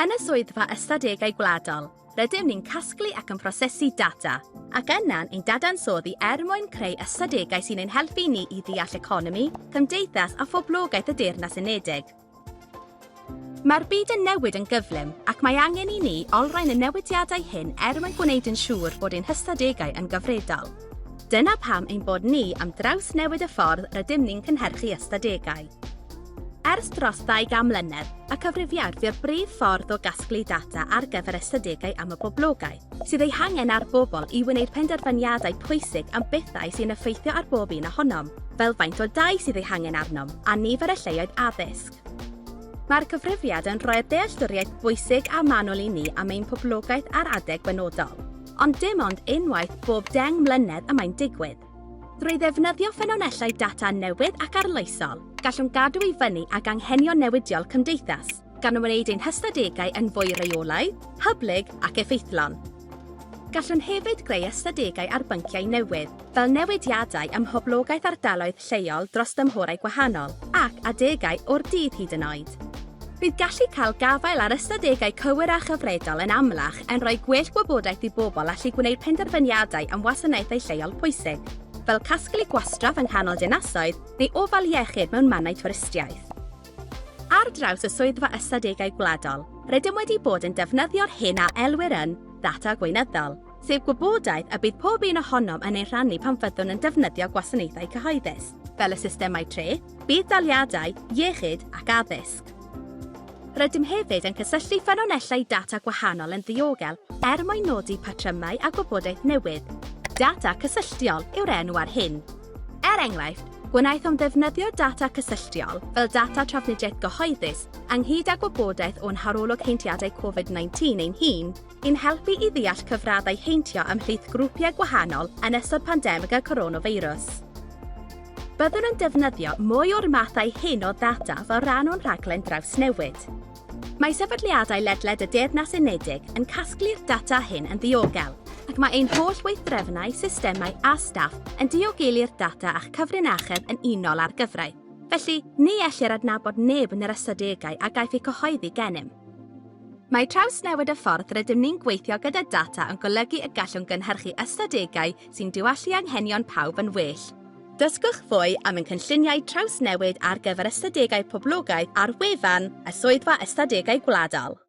Yn y Swyddfa Ystadegau Gwladol, rydym ni'n casglu ac yn prosesu data, ac yna'n ein dadansoddi er mwyn creu ystadegau sy'n ein helpu ni i ddeall economi, cymdeithas a phoblogaeth y Deyrnas Unedig. Mae'r byd yn newid yn gyflym, ac mae angen i ni olrhain y newidiadau hyn er mwyn gwneud yn siŵr bod ein hystadegau yn gyfredol. Dyna pam ein bod ni am drawsnewid y ffordd rydym ni'n cynhyrchu ystadegau. Ers dros ddau gan mlynedd, y cyfrifiad fu'r brif ffordd o gasglu data ar gyfer ystadegau am y boblogaeth sydd eu hangen a'r bobl i wneud penderfyniadau pwysig am bethau sy'n effeithio ar bob un ohonom, fel faint o dai sydd eu hangen arnom a nifer y lleoedd addysg. Mae'r cyfrifiad yn rhoi'r dealltwriaeth bwysig a manwl i ni am ein poblogaeth ar adeg benodol, ond dim ond unwaith bob deng mlynedd y mae'n digwydd. Drwy ddefnyddio ffynonellau data newydd ac arloesol, gallwn gadw i fyny ag anghenion newidiol cymdeithas, gan wneud ein hystadegau yn fwy rheolaidd, hyblyg ac effeithlon. Gallwn hefyd greu ystadegau ar bynciau newydd, fel newidiadau ym mhoblogaeth ardaloedd lleol dros dymhorau gwahanol, ac adegau o'r dydd hyd yn oed. Bydd gallu cael gafael ar ystadegau cywir a chyfredol yn amlach yn rhoi gwell gwybodaeth i bobl allu gwneud penderfyniadau am wasanaethau lleol pwysig, fel casglu gwastraff yng nghanol dinasoedd neu ofal iechyd mewn mannau twristiaeth. Ar draws y Swyddfa Ystadegau Gwladol, rydym wedi bod yn defnyddio'r hyn a elwir yn ddata gweinyddol, sef gwybodaeth y bydd pob un ohonom yn ei rhannu pan fyddwn yn defnyddio gwasanaethau cyhoeddus, fel y systemau treth, budd-daliadau, iechyd ac addysg. Rydym hefyd yn cysylltu ffynonellau data gwahanol yn ddiogel er mwyn nodi patrymau a gwybodaeth newydd. Data cysylltiol yw'r enw ar hyn. Er enghraifft, gwnaethom ddefnyddio data cysylltiol fel data trafnidiaeth gyhoeddus ynghyd â gwybodaeth o'n harolwg heintiadau Covid-19 ein hun, I'n helpu i ddeall cyfraddau heintio ymhlith grwpiau gwahanol yn ystod pandemig y coronafeirws. Byddwn yn defnyddio mwy o'r mathau hyn o ddata fel rhan o'n rhaglen drawsnewid. Mae sefydliadau ledled y Deyrnas Unedig yn casglu'r data hyn yn ddiogel, ac mae ein holl weithdrefnau, systemau a staff yn diogelu'r data a'ch cyfrinachedd yn unol â'r gyfraith. Felly, ni ellir adnabod neb yn yr ystadegau a gaiff eu cyhoeddi gennym. Mae trawsnewid y ffordd rydym ni'n gweithio gyda data yn golygu y gallwn gynhyrchu ystadegau sy'n diwallu anghenion pawb yn well. Dysgwch fwy am ein cynlluniau trawsnewid ar gyfer ystadegau poblogaidd ar wefan y Swyddfa Ystadegau Gwladol.